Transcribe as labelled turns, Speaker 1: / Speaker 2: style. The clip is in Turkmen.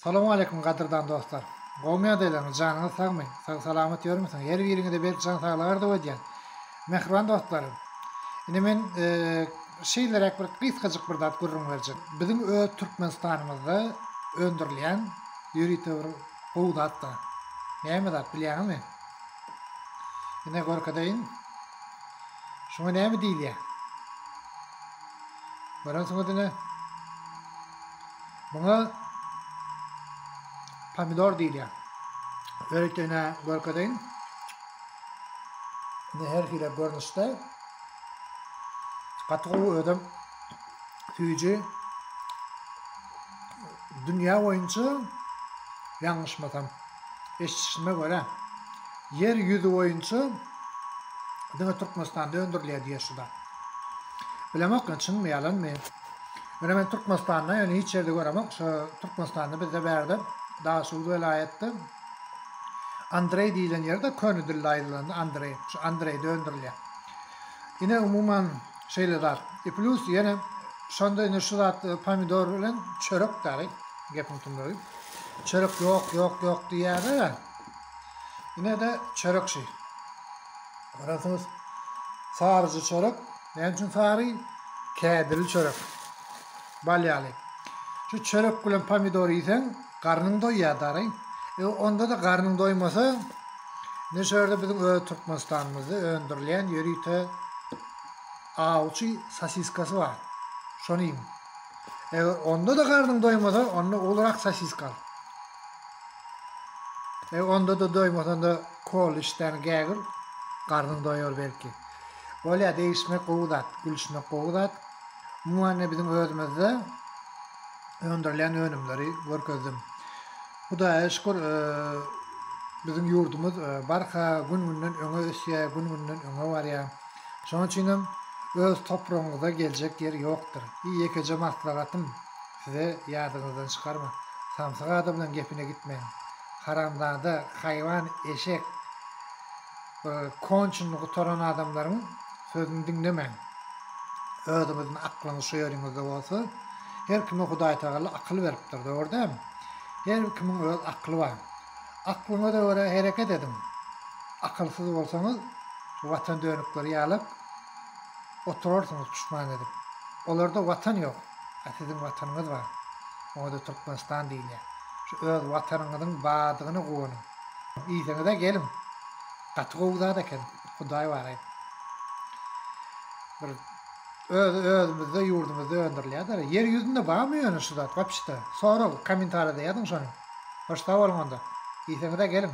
Speaker 1: Salowmaleýkim gadyrdan dostlar. Gowmy ýagdaýlaryňyz janyňyz sagmy sag salamat ýörmüsiň her biriňize berk jan saglyk arzuw edýän mähriban dostlarym indi men şeýleräk bir gysgajyk bir zat gürrüň berjek biziň öz Türkmenistanymyzda öndürilýän ýörite bir gowy zat bar näme zat bilýäňizmi ine görkezeýin şuňa näme diýilýär görensiňiz ine Muňa pomidor diýilýär. Öritene görkezeýin. Ne her hile görnüşde. Gaty gowy özüm süýji dünýä boýunça ýalňyşmasam eşitişime görä ýer ýüzi boýunça diňe Türkmenistanda öndürilýär diýýär şu zat. Bilemok çynmy ýalanmy. Muna men Türkmenistanda ýöne hiç ýerde göremok şo Türkmenistanda bizde bärde Daşoguz welaýatda Andreý diýilen ýerde köne dilde aýdylanda Andreý şo Andreý döndürilýär. Ine umuman şeýle zat. I plus ýene şonda indi şu zat pomidor bilen çörek däli gepiň tümlügi. Çörek ýok ýok ýok diýýärler-ä. Ine-de çörek şi. Göremsiňiz saryja çörek. Näme üçin sary? Kädirli çörek. Bal ýaly. Şu çörek bilen pomidor iýseň, garnyň doýýar dary. E, onda-da garnyň doýmasa, ne şu ýerde biziň öz Türkmenistanymyzda öndürilýän ýörite awçy sosiskasy bar. Şony iýiň. E, onda-da garnyň doýmasa, onda ulurak sosiska al. E, onda-da doýmasanda kol işdäni gägir, garnyň doýar belki. Bolýa degişmek gowy zat, gülüşmek gowy zat. Umuman ne biziň özümizde öndürilen önümleri görkezdim. Hudaýa şükür, biziň ýurdumyz barha gün-günden öňe ösýär, gün-günden öňe barýar. Şonuň üçin hem öz topragyňyzda geljek ýer ýokdur. Bir ýekeje maslahatym size ýadyňyzdan çykarmaň. Samsyk adam bilen gepine gitmeň. Haramzada, haýwan, eşek. Konçyny gutaran adamlaryň sözüni diňlemäň. Özüňiziň aklyňyz şu ýeriňizde bolsa, her kime Hudaýtagala akyl beripdir, dogry dämi? Her bir kimiň öz akly bar. Aklyňyza görä hereket ediň. Akylsyz bolsaňyz, watan dönükleri ýalap oturarsyňyz puşman edip. Olarda watan ýok. A siziň watanyňyz bar. Oňa-da Türkmenistan diýilýär. Şu öz watanyňyzyň bardygyna guwanyň. Iýseňizä geliň. Gaty gowy zat eken. Hudaý baraý. Bir öz özümizde ýurdumyzda öndürilýär. Ýer ýüzünde barmy ýöne şu zat wapşda? Sorag kommentariýada ýazyň şony. Hoş sag boluň onda. Iýseňizä geliň.